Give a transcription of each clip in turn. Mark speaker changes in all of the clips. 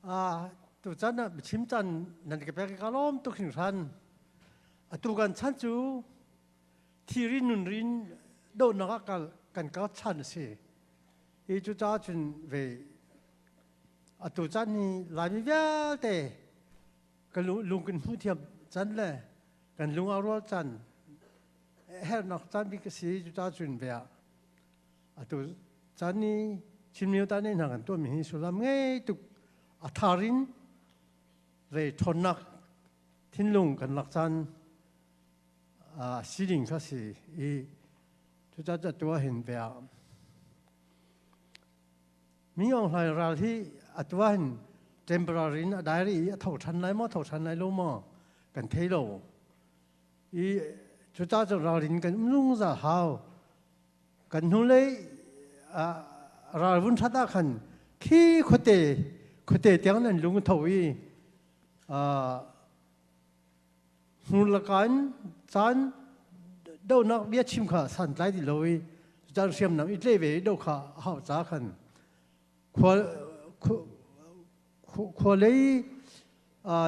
Speaker 1: a tu chan ah chim chan nan ka pek ka lom tuk hin ran a tu kan chan cu thi rin nun rin do nak ah kan ka chan si i cu cha chun ve a tu chan hi laimi vialte ka lung kan hmu thiam chan le kan lung a rual chan hernak chan bi ka si cu cha chun ve ah atu chan i chinmyo ta ne hna kan tuah mi hi sulam ngei tuk a thar in re ṭhawnnak thinlung kan lak caan a si ding kha si i cucaah ca tua hin ve ah mi ong hlai ral hi a tua hin temporary in a diary i a tho ṭhan lai maw tho ṭhan lai lo maw kan thei lo i cucaah cu ralrin kan um zungzal hau kan hnulei ralvun ṭhat ah khan khi khuate khuate tiang nan lung tho i hnurlakan caan donak bia chim kha santlai ti lo i caan hriamnam i tle ve i do kha a hau ca khan khua lei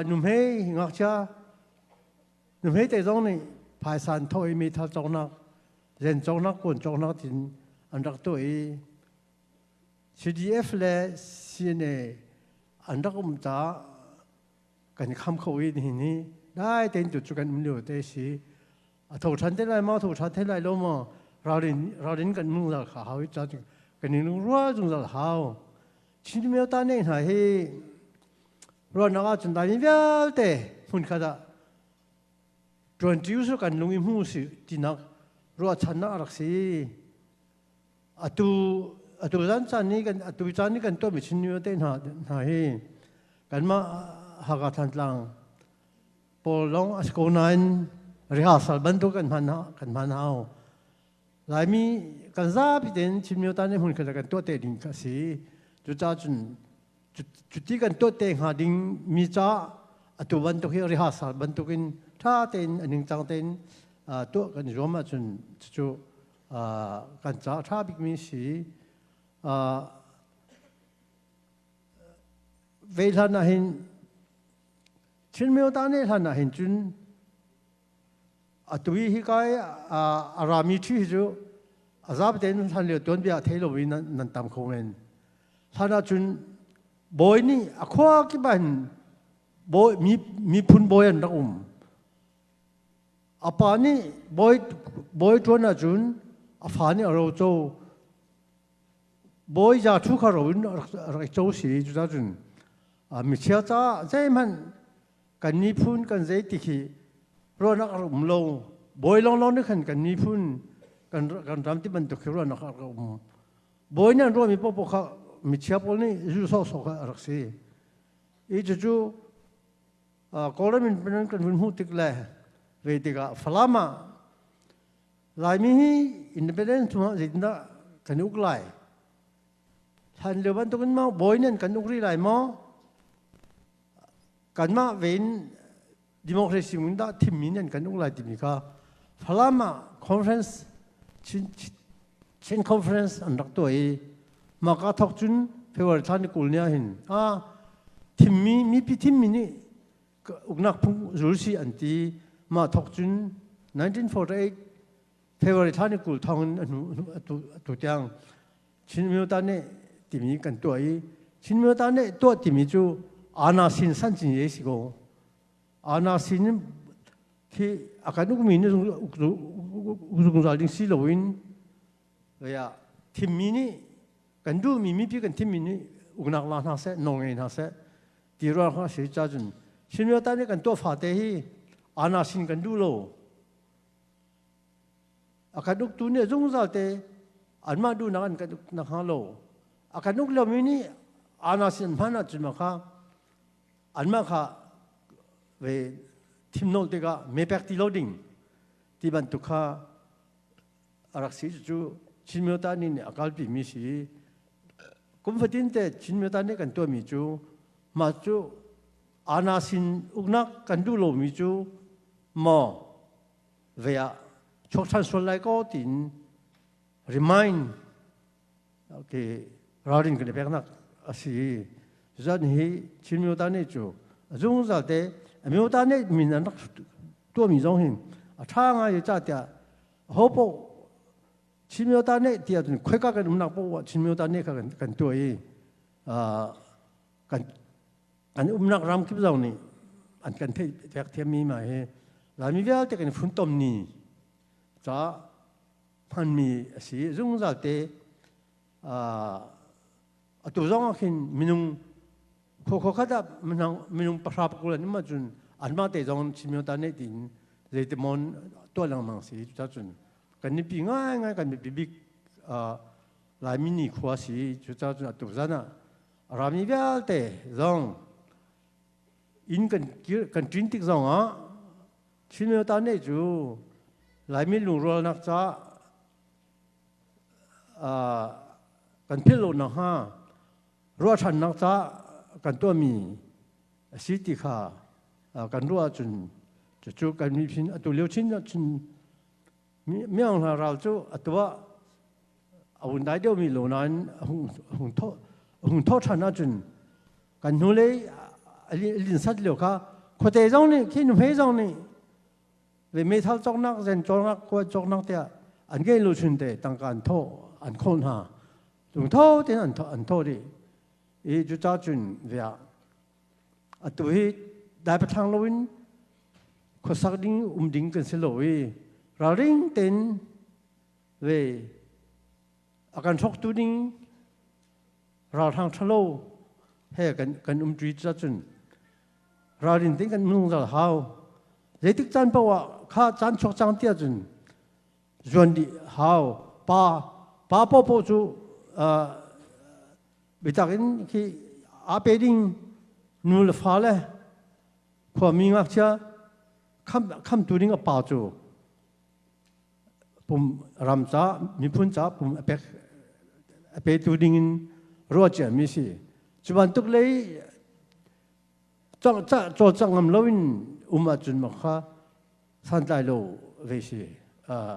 Speaker 1: numhei ngakchia Nu hmete zong nih phaisan thaw i meithal cawknak, zen cawknak, kun cawknak tin an rak tuah i CDF le CNA an rak um caah kan i kham kho i nihin hi dai tein tu cu kan um lio te si a tho ṭhan te lai ma tho ṭhan te lai lo maw ralrin ralrin kan mung zal kha hau i chan kan in rua zung zal hau chin meo ta ne hna hi ruannak ah cun taimi vialte hmun khat ah ṭuan ṭi usur kan lung i hmu si tinak ruahchannak a rak si atu atu zan caan ni kan atu caan ni kan tuahmi chinnu te hna hna hi kanmah Hakha Thantlang pawl long asiko nain rehearsal bantuk kan hman kan hman hau laimi kan zapi ten chinmyo ta ne hun khala kan tuah te ding ka si cucacun cuti kan tuat te hnga ding mi ca atu bantuk hi rehearsal bantuk in tha tein aning cang tein tu kan zuam ahcun cucu kan ca tha bikmi si ve hlan ah hin chin myo ta ne hlan ah hin cun Atu hi kai a rami ṭhi hi cu a zaap tein hlan lio tuanbia thei lo in nan tam kho men. Hlan ah cun bawi nih a khua kip ah hin miphun bawi an rak um. A pa nih bawi ṭuan ah cun a fa nih a ro co. Bawi za thu kha ro in a rak co si. Cucacun michia caah zeihmanh kan miphun kan zeitik hi ruanak a um lo bawi lawnglawng nih khan kan miphun kan kan ram ti bantuk hi ruanak a um bawi nih an ruahmi popo kha michia pawl nih zu sawsawk kha a rak si i cucu Kawlram in nan kan hun hmuh tik le ve tikah Falam ah Laimi hi independence chungah zeitindah kan uk lai hlan lio bantukin ma bawi nih kan uk rih lai maw kanmah vein democracy ngun dah thimmi nan kan um lai timi kha Falam ah conference Chin, Chin conference an rak tuah i maka thok cun February thla ni kul ni ah hin ah thimmi mipi thimmi nih uknak phung zul si an ti mah thok cun 1948 February thla ni kul thong in atu tiang Chin Minota ne timi kan tuah i Chin Minota ne tuah timi cu ana sin san cin ye si ko ana sin khi akan ukmi ni zungzal ding si loin ya thimmi nih kan duhmi mipi kan thimmi nih uknak la hna seh nong ngei hna seh ti ruang hna si cha cun Chin Minota ne kan tuah fate hi ana sin kan duh lo a kan uk tu nih zungzal te anmah duhnak an kan uk na hnga lo a kan uk lomi nih ana sin hman ahcun ma kha anmah kha ve thim nawl tikah mepek ti lo ding ti bantuk kha a rak si cucu Chin Myota nih nih a kalpi mi si kum fatin te Chin Myota nih kan tuahmi cu mah cu ana sin uknak kan duh lomi cu maw ve ah chok than sual lai ko tiin remind okay ralrin kan i peknak asi cucun hi chin myota nih cu zungzal te myota nih min an rak tuahmi zong hin a tha ngai i ca tiah ho poh chin myota nih tiah cun khoika kan umnak poh ah chin myota nih kha kan tuah i kan an umnak ram kip zong nih an kan theih fek thiammi ma hi Laimi vialte kan funtom ni caah hmanmi a si zungzal te atu zong ah khin minung khokho khat ah minung pahra pakulan um cun anmah te zong chimio ta ne tiin zeitimon tuah lengmang si cuta cun kan nipi ngai ngai kan nipi bik Laimi ni khua si cuta cun atu zan ah A rami vialte zong inn kan kir kan ṭin tik zongah Chinmyotan nih cu Laimin lungrualnak caah uh, kan philh lo nakhnga ruahchannak caah kan tuahmi a si ti kha uh, kan ruah ahcun cucu kan miphun atu lio Chin chin miang hna ral cu atuah a hun dai deuh mi lo nain hung tho hung tho than ahcun kan hnu lei lin sat lio kha khuate zong nih khin hme zong nih le meithal coknak zen coknak kuat coknak tiah an gein lo chun te tangka an tho an khol hna tung tho tin an tho an tho di i cuca cun via atu hi dai pathang lo in khosak ding um ding kan si lo i ralring ten ve akan thok tu ding ralhrang thalo he kan kan um tri cha chun ralrin tin kan nung dal hau zeitik chan pa wa kha chan chok chang tia chun zuan di hau pa pa po po chu bitak in khi a pe ding nu le fa le khuami ngakchia kham khamtu ding a pa cu pum ram ca miphun ca pum a pek a petu ding in ruacia mi si cu bantuk lei cang cah caw cang ngam lo in um ahcun maka santlai lo ve si uh,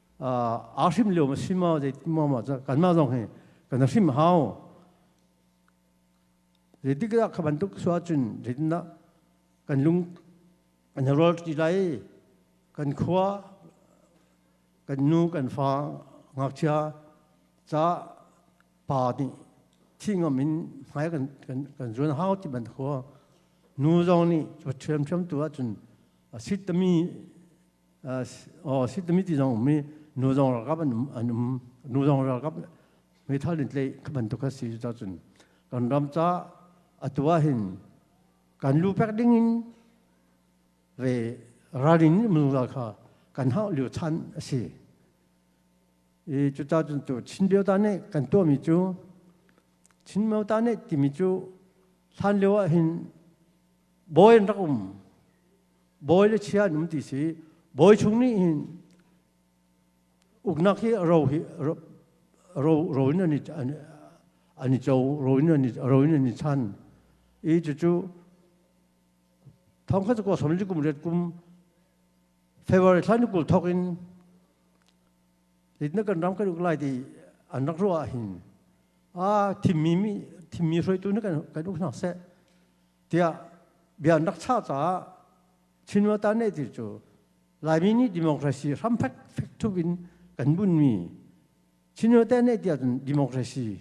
Speaker 1: aa hrim lio ma si ma zei ma ma kan mah zong hi kan hrim hau zeitik dah kha bantuk suah cun zeitin dah kan lung kan rol ti lai kan khua kan nu kan fa ngakchia ca pa nih thi ngam in hmai kan kan kan zuan hau ti ban khua nu zong nih ṭhiam ṭhiam tu ahcun a sit tami oh sitami ti zong um i nu zong ralkap an um an um nu zong ralkap meithal in tlei ka bantuk a si cu cun kan ram ca atu ah hin kan lu pek ding in ve ralin mnu ga kha kan hau liu chan a si i cu ca cun tu chin bio ta ne kan to mi cu chin meo ta ne timi cu hlan lio ah hin boyen rak um bawi le chia an um ti si bawi chung nih hin uknak hi ro hi ro ro in an i an i cho ro in an i ro in an i chan i cucu thong kha ko som li kum ret kum february thla ni kul thok in lit na kan ram kan uk lai ti an rak ruah hin a thimmi mi thimmi hruaitu na kan kan uk nak se tiah bia an rak chah caah Chinmata nehtir cu Laimi nih democracy hramfek fek tuk in kan bunmi Chinmate nehtir ahcun democracy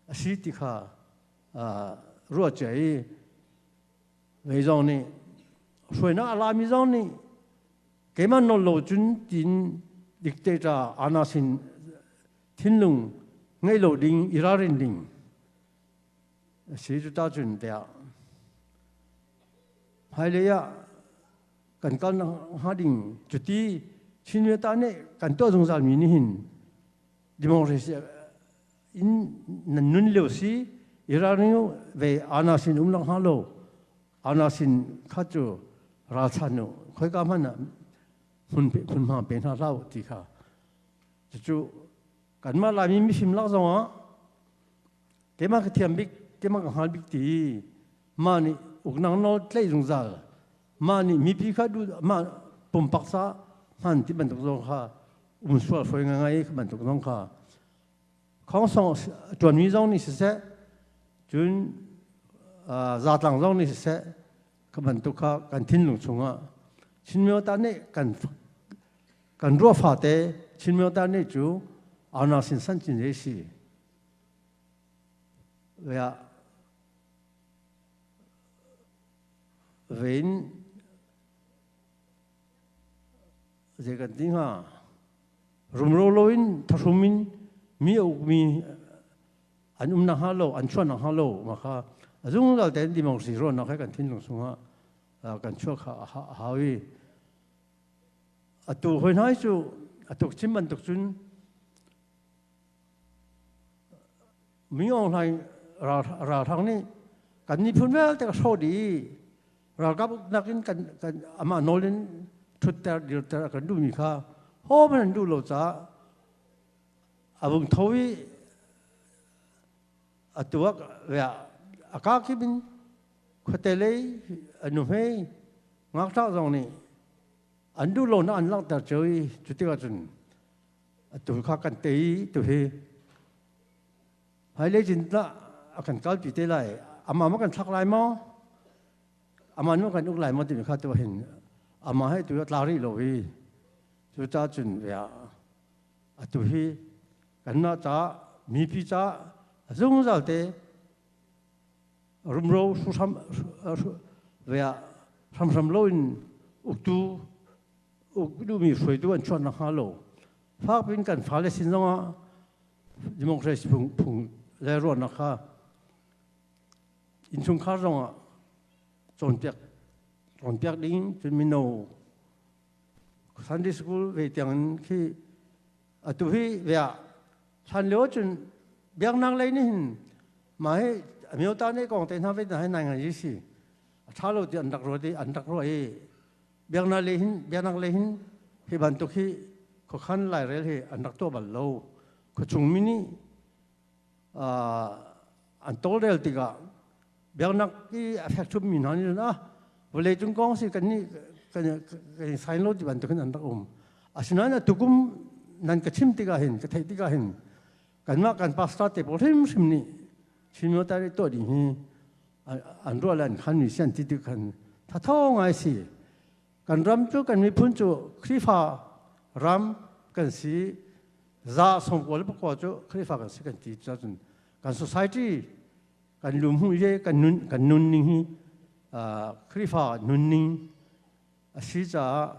Speaker 1: a si ti kha ruah cia i mei zong nih hruainak a lami zong nih keimah nawl lo cun tiin dictator anas in thinlung ngeih lo ding i ralrin ding a si cu ta cun tiah hmailei ah kan kal hnga ding cuti chinwe ta nih kan tuah zungzal mi nih hin democracy in nan nun leo si irani ve ana sin um lang ha lo ana sin kha chu ralchan nu khoi ka man hun hun ma pe na lau ti kha cucu kanmah laimi misim lak zong ah Keimah ka thiam bik, keimah ka hngal bik ti ma nih uknang nawl tlaih zungzal ma nih mipi kha duh ma pumpak sa hman ti bantuk zong kha um sual foi ngai ka bantuk zong kha khongsong tuanmi zong nih siseh cun zatlang zong nih siseh ka bantuk kha kan thinlung chungah chinmyo ta nih kan kan ruah fate chinmyo ta nih cu auna sin san chin si Riah vein zei kan ti hnga rumro lo in thahrum in mi uk mi an um na ha lo an chuan na ha lo ma kha azung dal ten ti mong si ro na kai kan thin lung sunga kan chua kha ha wi atu hoi nai chu atuk chim ban tuk chun Mi Aung Hlaing ralhrang nih kan miphun vialte ka hrawt i ralkap uknak in kan kan amah nawl in ṭhutter dirter a kan duhmi kha hom an duh lo caah a vung tho i a tuak riah a kakip in khuate lei a nuhmei ngakṭah zong nih an duh lonak an langhter cio i cu tikah cun atu kha kan tei tu hi haile jin la akan kal pi te lai ama ma kan thak lai mo aman ma kan uk lai mo ti kha tu hin ama he tu tla ri lo hi chu ta chun vea atu hi kan na ta mi pi cha zungzal te rumro su sam vea sam sam lo in uktu ukdumi hruaitu an chuan nakhnga lo fak in kan fale sin zongah democracy phung, phung le ruahnak kha innchungkhar zongah cawnpiak cawnpiak ding cun mino Sunday school ve tiangin khi atu hi ve ah hlan lio cun biaknak lei nih hin ma hi amio ta nih kong te hna ve hna hi nai ngai si a tha lo ti an rak ruat i an rak ruah i biaknak le hin biaknak le hin hi bantuk hi khuakhan lairel hi an rak tuah bal lo khuachung mi nih an tawlrel tikah biaknak i a fekchum mi hna nih ah vawlei cung kong si kan nih kan i sain lo ti bantuk hin an rak um asinain a tukum nan ka chim tikah hin ka theih tikah hin kanmah kan pastor te pawl hrimhrim nih chin myo tari tuah ding hi an ruah len khan mi sian ti tu khan thatho ngai si kan ram cu kan miphun cu khrifa ram kan si za som ko le ko cu khrifa kan si kan ti cun kan society kan lum hu ye kan nun kan nun ning hi khrifa nun ning a si caah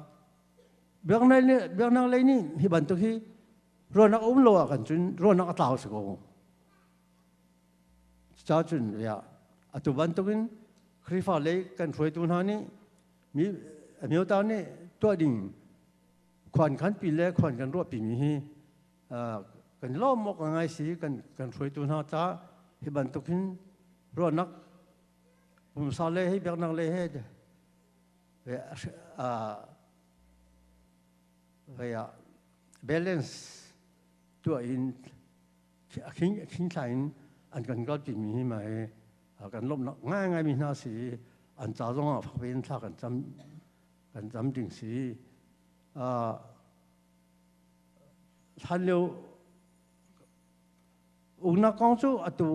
Speaker 1: biaknak le biaknak lei nih hi bantuk hi ruanak um lo ah kan cun ruanak a tlau si ko Cucacun riah atu bantukin Khrihfa lei kan hruaitu hna nih mi amyota nih tuah ding khuan khanpi le khuan kan ruahpi mi hi kan lawm awk ngai si kan kan hruaitu hna ta hi bantukin ruahnak pumsa le hi biaknak le he balance tuah in khingthlai in an kan kal timi hi mai kan lawmhnak ngaingaimi hna si i an ca zongah fak in thla kan cam kan cam ding si hlan lio uknak kong cu atu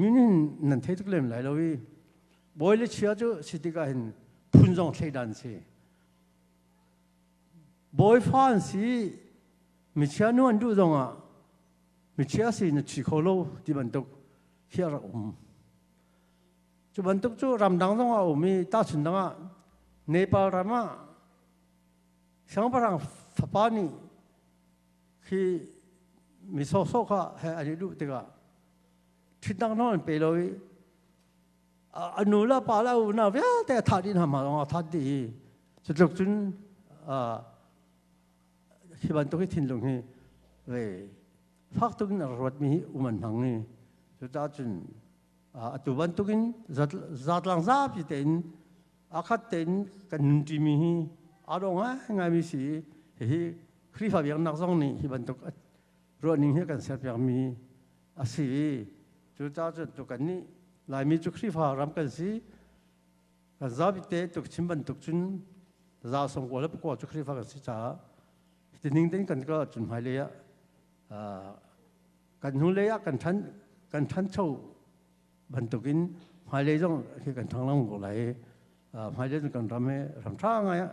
Speaker 1: minin nan thei tuk lem lai lo i bawi le chia cu si tikah hin phun zong thleidan si Bawifa an si michia nu an duh zongah michia si na thi kho lo ti bantuk hi a rak um. Cu bantuk cu ramdang zongah a um i tahchun dangah Nepal ram ah siangpahrang fapa nih khi mi sawhsawh kha he an i duh tikah ṭhitnak nawn an pe lo i a nu la pa la u na vialte a that in hama long a that di cu tluk cun hi bantuk hi thinlung hi re fak tuk in ruat mi uman hmang ni cu ta cun a tu bantuk in zatlang zapi te in akhat te in kan nun ti mi hi a dong ngai ngai mi si hi Khrihfa biaknak zong nih hi bantuk ruahning hi kan serpiakmi a si i cu caahcun tu kan nih Laimi cu Khrihfa ram kan si kan zabite tuk chim bantuk cun za som kual le pakua cu Khrihfa kan si caah tining ten kan ka cun hmailei ah kan hnu lei ah kan than kan thancho bantuk in hmailei zong khi kan thang lang ko lai hmailei kan ram he ram tha ngai ah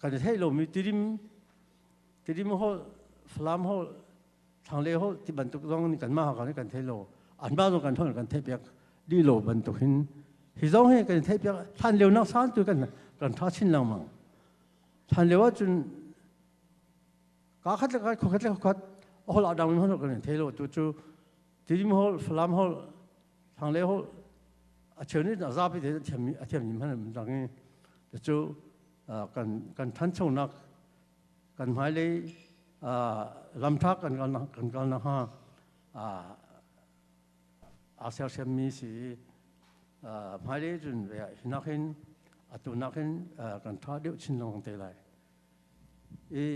Speaker 1: kan thei lomi tirim tirim ho falam ho thangle ho ti bantuk zong ni kan ma ha kan kan thei lo an ba zong kan thon kan thei piak di lo bantuk hin hi zong he kan thei piak than leu nak san tu kan kan tha chin lang mang than lewa chun ka khat ka kho khat khat hol adang hon kan thei lo tu chu tirim hol falam hol thangle ho acheu ni na za pi de thiam athiam nim han dang chu kan ṭhanchonak kan hmailei lamṭha kan kal nakhnga aa sersiammi si i hmailei cun hinak hin atu nakin kan ṭha deuh chin lengmang te lai. I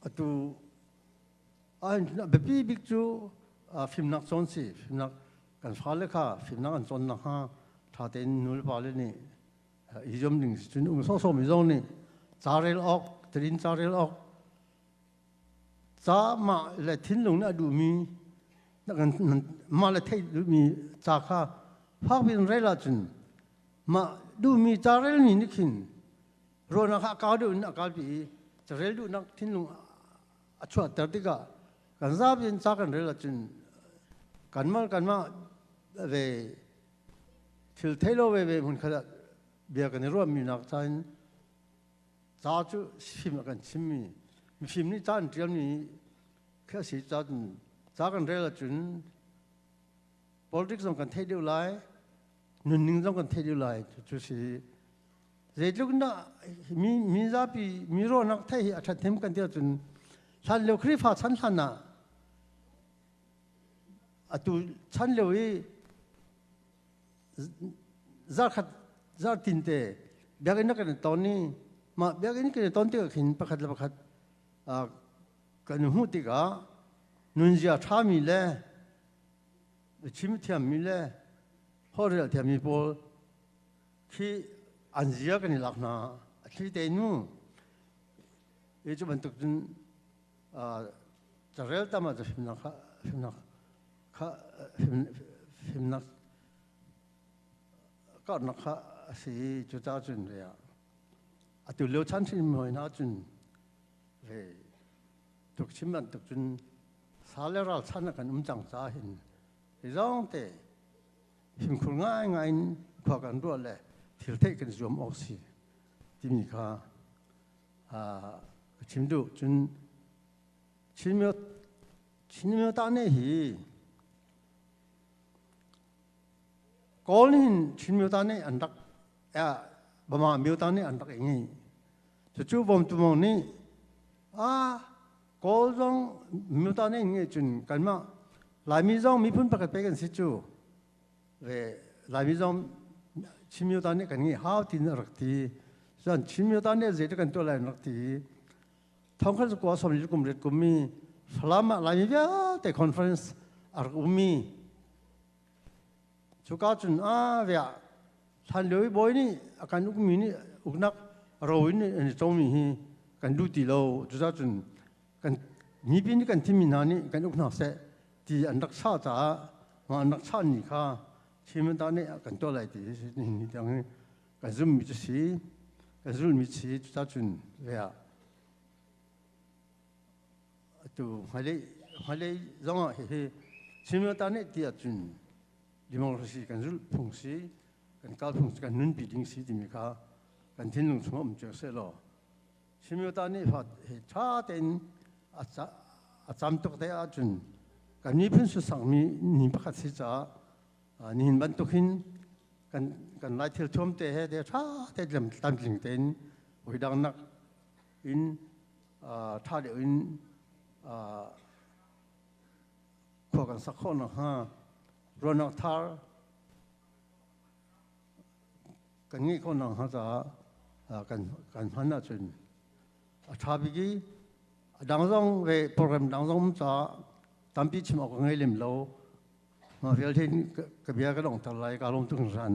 Speaker 1: atu A biapi bik cu fimnak cawn si. Fimnak kan fale kha fimnak an cawn nakhnga ṭha tein nulepale nih i zuam ding si. Cun um sawhsawhmi zong nih ca rel awk, terin ca rel awk, ca mah le thinlung nih a duhmi, mah le theih duhmi ca kha fakpi in rel ahcun mah duhmi ca relmi nih khin ruahnak ah a kau deuh in a kalpi i carel duhnak thinlung a chuahter tikah kan zapi in ca kan rel ahcun kanmah kanmah ve thil thei lo veve hmun khat ah bia kan i ruahmi nak ca in ca cu fim a kan chimmi mifim nih ca an ṭialmi khi a si cun ca kan rel ahcun politics zong kan theih deuh lai nunning zong kan theih deuh lai cucu si Zeitluk na mi zapi mi ro nak thai hi a that them kan tia cun hlan leo khrifa chan hlan ah atu chan leo i zarkhat zartin te biakinn na kan ton ni mah biakinn kan ton tikah khin pakhat le pakhat kan hmuh tikah nunzia ṭhami le chim thiammi le horrel thiammi pawl khi an zia kan i lak hna a thli te nu e cu bantuk cun carel tam ah fimnak kha fimnak kha fimnak karnak kha a si i cu ta cun re ah a tu leo chan hrin mui na cun ve tuk chim ban tuk cun sa le ral chan kan um cang ca hin i zong te fimkhur ngaingai in khua kan ruah le thil theih kan zuam awk si timi kha ka chim duh cun Chinmyo tane hi Kawl nih Chinmyo tane an rak Bama myo tane an rak i ngei cucu bawmtu mong nih a Kawl zong nuta ne nge cun kanmah Laimi zong miphun pakhat pe kan si cu le Laimi zong Chinmyuta nih kan ngeih hau tin a rak ti cun Chinmyuta nih zeitluk kan tuah lai an rak ti i thongkhat cu kua som kum ret kum mi Falam ah Laimi vialte conference a rak um mi Cuka cun a vea hlan lio i bawi nih a kan ukmi nih uknak ro in an i congmi hi kan duh ti lo. Cucacun kan mipi nih kan thimmi hna nih kan uk hna seh ti an rak sah caah mah an rak sahmi kha Thimanta nih a kan tuah lai ti hi nihin tiang hi kan zummi cu si, kan zulmi si. Cucacun vea atu hmailei hmailei zongah hihi similta nih ti ahcun democracy kan zulh phung si kan kalphung si kan nunpi ding si timi kha kan thinlung chungah um cio seh law similta nih fa he ṭha tein a cam tuk te ahcun kan miphun susangmi ni pakhat si caah nihin bantuk hin kan kan lai thil thuam te he te ṭha te tlamtling tein hoi dang nak in ṭha deuh in khua kan sak khawh nakhnga ruahnak thar kan ngeih khawh nakhnga caah kan hman ahcun a ṭha bik i a dang zong le program dang zong caah tampi chim awk ka ngei lem lo mah vialte ka bia ka dongter lai ka lawm tuk hringhran